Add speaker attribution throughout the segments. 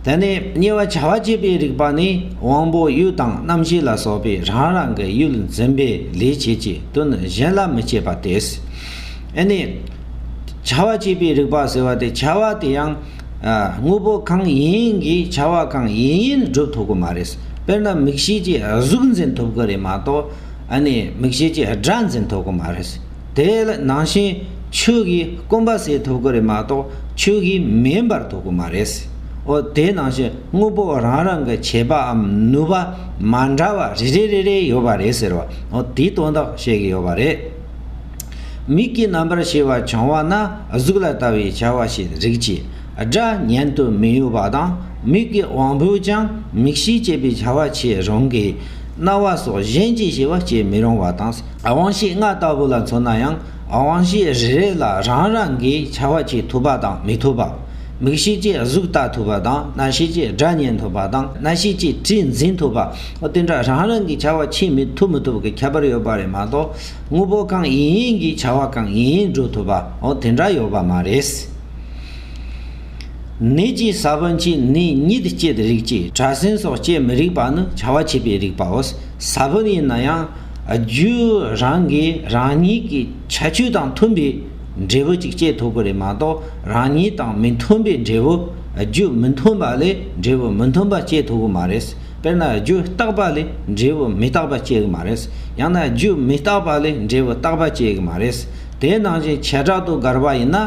Speaker 1: དེ་ནས་གཉིས་པ་བྱ་བ་བྱེད་པའི་རིགས་པ་ནི་དབང་པོ་ཡུལ་དང་རྣམ་ཤེས་ལ་སོགས་པའི་རང་རང་གི་ཡུལ་འཛིན་པའི་ལས་བྱེད་ཀྱི་དོན་གཞན་ལ་མི་བྱེད་པ་དེས་ནི། བྱ་བ་བྱེད་པའི་རིགས་པ་ཟེར་བ་དེ་བྱ་བ་དེ་ཡང་དངོས་པོ་གང་ཡིན་གྱིས་བྱ་བ་གང་ཡིན་ཡིན་བསྒྲུབ་ཐུབ་ཀྱི་མ་རེད། དཔེར་ན་མིག་ཤེས་ཀྱིས་གཟུགས་འཛིན་ཐུབ་ཀྱི་རེད་མ་གཏོགས་མིག་ཤེས་ཀྱིས་སྒྲ་འཛིན་ཐུབ་ཀྱི་མ་རེད། དེ་ལ་ནང་བཞིན་ཆོས་ཀྱི་སྐོམ་པ་སེལ་ཐུབ་ཀྱི་རེད་མ་གཏོགས་ཆོས་ཀྱིས་མིན་པར་ཐུབ་ཀྱི་མ་རེད། འོ་དེ་ནང་བཞིན་དངོས་པོ་རང་རང་གི་བྱེད་པའམ་ནུས་པ་མ་འདྲ་བ་རེ་རེ་རེ་རེ་ཡོད་པ་རེད་ཟེར་བ་འོ་དེའི་དོན་དག་བཤད་ཀྱི་ཡོད་པ་རེད། མིག་གི་རྣམ་པར་ཤེས་པ་བྱུང་བ་ན་གཟུགས་ལ་ལྟ་བའི་བྱ་བ་ཞིག་རིག་ཅིང་སྒྲ་བརྙན་དུ་མི་གཡོ་བ་དང་མིག་གི་དབང་པོས་ཀྱང་མིག་ཤེས་བསྐྱེད་པའི་བྱ་བ་བྱེད་རུང་གི། རྣ་བ་སོགས་གཞན་གྱིས་ཤེས་པ་བསྐྱེད་མི་རུང་བ་དང། དབང་བཞི་ལྔ་ལྟ་བུ་ལ་མཚོན་ན་ཡང་དབང་བཞི་རེ་རེ་ལ་རང་རང་གི་བྱ་བ་བྱེད་ཐུབ་པ་དང་མི་ཐུབ་པ། མིག་ཤེས་ཀྱིས་གཟུགས་ལྟ་ཐུབ་པ་དང་རྣ་ཤེས་ཀྱིས་སྒྲ་ཉན་ཐུབ་པ་དང་སྣ་ཤེས་ཀྱིས་དྲི་འཛིན་ཐུབ་པ། དེ་འདྲ་རང་རང་གི་བྱ་བ་བྱེད་མི་ཐུབ་མི་ཐུབ་ཀྱི་ཁྱད་པར་ཡོད་པ་རེད་མ་གཏོགས་དངོས་པོ་གང་ཡིན་ཡིན་གྱི་བྱ་བ་གང་ཡིན་ཡིན་སྒྲུབ་ཐུབ་པ་དེ་འདྲ་ཡོད་པ་མ་རེད། ནད་ཀྱི་ས་བོན་གྱིས་ནི་ཉིད་བསྐྱེད་རིགས་ཀྱིས་གྲྭ་སེན་སོགས་བསྐྱེད་མི་རིགས་པ་ནི་བྱ་བ་བྱེད་པའི་རིགས་པའོ། ས་བོན་ཡིན་ན་ཡང། རྒྱུའི་རང་གིས་རང་ཉིད་ཀྱི་བྱ་སྤྱོད་དང་མཐུན་པའི་འབྲས་བུ་ཅིག་སྐྱེད་ཐུབ་ཀྱི་རེད་མ་གཏོགས་རང་ཉིད་དང་མི་མཐུན་པའི་འབྲས་བུ། རྒྱུ་མི་མཐུན་པ་ལས་འབྲས་བུ་མི་མཐུན་པ་སྐྱེད་ཐུབ་ཀྱི་མ་རེད། དཔེར་ན་རྒྱུ་རྟག་པ་ལས་འབྲས་བུ་མི་རྟག་པ་སྐྱེ་གི་མ་རེད། ཡང་ན་རྒྱུ་མི་རྟག་པ་ལས་འབྲས་བུ་རྟག་པ་སྐྱེ་གི་མ་རེད། དེའི་ནང་བཞིན་བྱེ་བྲག་ཏུ་དགར་བ་ཡིན་ན།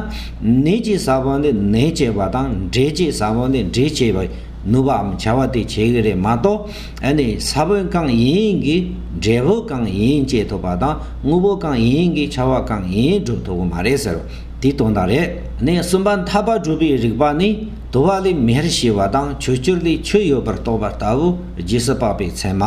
Speaker 1: ནད་ཀྱི་ས་བོན་ལས་ནད་སྐྱེས་པ་དང་འབྲས་ཀྱི་ས་བོན་ལས་འབྲས་སྐྱེས་པའི་ནུས་པའམ་བྱ་བ་དེ་བྱེད་ཀྱི་རེད་མ་གཏོགས། ཨ་ནི་ས་བོན་གང་ཡིན་གྱི་འབྲས་བུ་གང་ཡིན་སྐྱེད་ཐུབ་པ་དང་དངོས་པོ་གང་ཡིན་གྱི་ཆ་བ་གང་ཡིན་སྒྲུབ་ཐུབ་པོ་མ་རེད་ཟེར་བ་དེ་དོན་དག་རེད། ནས་གསུམ་པ་འཐབ་པ་སྒྲུབ་པའི་རིགས་པ་ནི་དུ་བ་ལས་མེར་ཞི་བ་དང་ཆུ་སྐྱུར་ལས་ཆུ་ཡོད་པར་རྟོགས་པ་ལྟ་བུ་རྗེས་སུ་དཔག་པའི་མཚན་མ།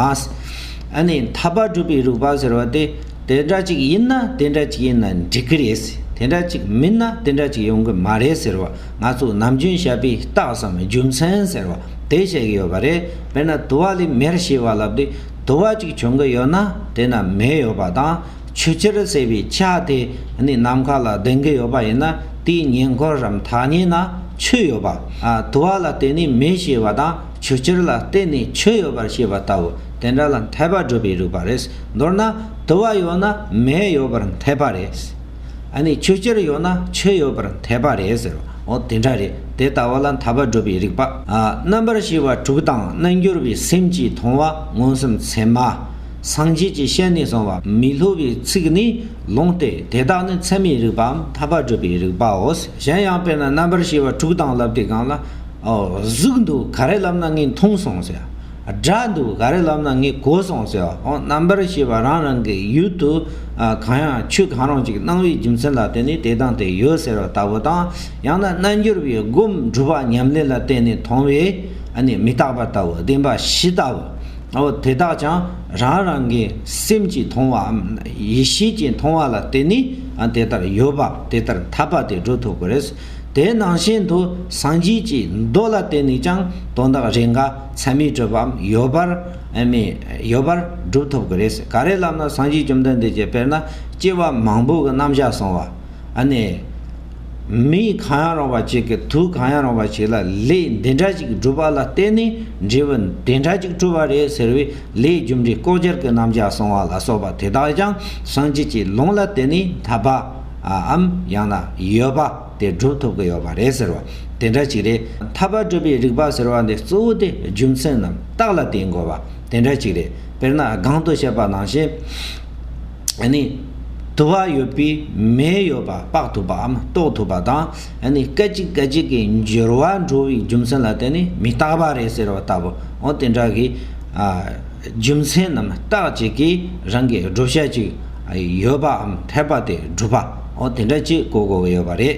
Speaker 1: ཨ་ནི་འཐབ་པ་སྒྲུབ་པའི་རིགས་པ་ཟེར་བ་དེ་དེ་འདྲ་ཅིག་ཡིན་ན་དེ་འདྲ་ཅིག་ཡིན་ན་འགྲིག་གི་རེད། དེ་འདྲ་ཅིག་མིན་ན་དེ་འདྲ་ཅིག་ཡོང་གི་མ་རེད་ཟེར་བ་ང་ཚོ་ནམ་རྒྱུན་ཞབས་པའི་རྟགས་སམ་རྒྱུ་མཚན་ཟེར་བ་དེ་བཤད་ཀྱི་ཡོད་པ་རེད་དཔེར་ན་དུ་བ་ལས་མེར་ཞེས་བ་ལབ་དུས་དུ་བ་གཅིག་བྱུང་གི་ཡོད་ན་དེ་ན་མེ་ཡོད་པ་དང་ཆུ་གཅེར་ཟེར་བའི་ཆ་དེ་ནི་ནམ་མཁའ་ལ་ལྡིང་གི་ཡོད་པ་ཡིན་ན་དེའི་ཉེ་འཁོར་རམ་ཐག་ཉེ་ན་ཆུ་ཡོད་པ་དུ་བ་ལ་བརྟེན་ནས་མེ་ཞེས་བ་དང་ཆུ་གཅེར་ལ་བརྟེན་ནས་ཆུ་ཡོད་པར་བཤད་པ་ལྟ་བུ་དེ་འདྲ་ལ་འཐད་པ་བསྒྲུབ་པའི་རིགས་པ་རེད་མདོར་ན་དུ་བ་ཡོད་ན་མེ་ཡོད་པར་འཐད་པ་རེད། ཨ་ནི་ཆོས་ཅིར་ཡོད་ན་ཆོས་ཡོད་པར་འཐད་པ་རེད་ཟེར་བ་འོ་དེ་འདྲ་རེད་དེ་ལྟ་བ་ལ་འཐབ་པ་བསྒྲུབ་པའི་རིགས་པ་རྣམ་པར་ཤེས་པ་དྲུག་དང་རྣལ་འགྱུར་བའི་སེམས་ཀྱིས་མཐོང་བ་མངོན་སུམ་ཚད་མ། སངས་རྒྱས་ཀྱི་ཞལ་ནས་གསུངས་པ་མི་སླུ་བའི་ཚིག་ནི་ལུང་སྟེ་དེ་དག་ནི་ཚད་མའི་རིགས་པའམ་འཐབ་པ་བསྒྲུབ་པའི་རིགས་པའོ། གཞན་ཡང་དཔེར་ན་རྣམ་པར་ཤེས་པ་དྲུག་དང་བསླབ་དེ་གང་ལ། ཨོ། གཟུགས་འདུག་ག་རེ་བསླབ་ན་ངས་མཐོང་སོང་ཟེར། སྒྲ་འདུག་ག་རེ་ལབ་ན་ངས་གོ་སོང་ཟེར་བ་ཨོ་རྣམ་པར་ཤེས་པ་རང་རང་གི་ཡུལ་དུ་གང་ཡང་ཆོས་གང་རུང་ཅིག་སྣང་བའི་རྒྱུ་མཚན་ལ་བརྟེན་ནས་དེ་དང་དེ་ཡོད་ཟེར་བ་ལྟ་བུ་དང་ཡང་ན་རྣལ་འབྱོར་པའི་སྒོམ་སྒྲུབ་པ་ཉམས་ལེན་ལ་བརྟེན་ནས་མཐོང་བས་མི་རྟག་པ་ལྟ་བུ་བདེན་པ་བཞི་ལྟ་བུ་ཨོ་དེ་དག་ཀྱང་རང་རང་གི་སེམས་ཀྱིས་མཐོང་བའམ་ཡེ་ཤེས་ཀྱིས་མཐོང་བ་ལ་བརྟེན་ནས་དེ་ལྟར་ཡོད་པ་དེ་ལྟར་ཐར་པ་དེ་འགྲོ་ཐུབ་ཀྱི་རེད། དེ་ནང་བཞིན་དུ་སངས་རྒྱས་ཀྱི་མདོ་ལ་བརྟེན་ནས་ཀྱང་དོན་དག་རེ་འགའ། ཚད་མས་སྤྲོས་པའམ་ཡོད་པར་མི་ཡོད་པར་སྒྲུབ་ཐུབ་ཀྱི་རེད། ག་རེ་ལབ་ན་སངས་རྒྱས་བཅོམ་ལྡན་འདས་ཀྱིས་དཔེར་ན་སྐྱེ་བ་མང་པོ་གི་རྣམ་གཞག་སོང་བ། ནས། མི་གང་ཡང་རུང་བ་གཅིག་གིས་དུས་གང་ཡང་རུང་བ་ཞིག་ལ་ལས་འདི་འདྲ་ཞིག་བསྒྲུབ་པ་ལ་བརྟེན་ནས་འབྲས་བུ་འདི་འདྲ་ཞིག་སྤྲོས་པ་རེད་ཟེར་བའི་ལས་རྒྱུ་འབྲས་ལྐོག་གྱུར་གྱི་རྣམ་གཞག་སོང་བ་ལ་སོགས་པ་དེ་དག་ཀྱང་སངས་རྒྱས་ཀྱི་ལུང་ལ་བརྟེན་ནས་ཐར་པ། འམ་ཡང་ན་ཡོད་པ། དེ་བསྒྲུབ་ཐུབ་ཀྱི་ཡོད་པ་རེད་ཟེར་བ་དེ་འདྲ་ཅིག་རེད། ཐར་པ་སྒྲུབ་པའི་རིགས་པ་ཟེར་བ་འདི་གཙོ་བོ་དེ་རྒྱུ་མཚན་རྣམས་རྟགས་ལ་བརྟེན་དགོས་པ་དེ་འདྲ་ཅིག་རེད། དཔེར་ན་སྒང་དུ་བཤད་པ་ནང་བཞིན། ནི། དུ་བ་ཡོད་པས་མེ་ཡོད་པ་དཔག་ཐུབ་པའམ་རྟོགས་ཐུབ་པ་དང། ནི། སྐད་ཅིག་སྐད་ཅིག་གི་འགྱུར་བ་འགྲོ་བའི་རྒྱུ་མཚན་ལ་བརྟེན་ནས་མི་རྟག་པ་རེད་ཟེར་བ་ལྟ་བུ་འོ་དེ་འདྲ་གི། རྒྱུ་མཚན་རྣམས་རྟགས་གཅིག་གིས་རང་གི་བསྒྲུབ་བྱ་གཅིག་ཡོད་པའམ་འཐད་པ་དེ་སྒྲུབ་པའོ་དེ་འདྲ་གཅིག་གོ་དགོས་ཀྱི་ཡོད་པ་རེད།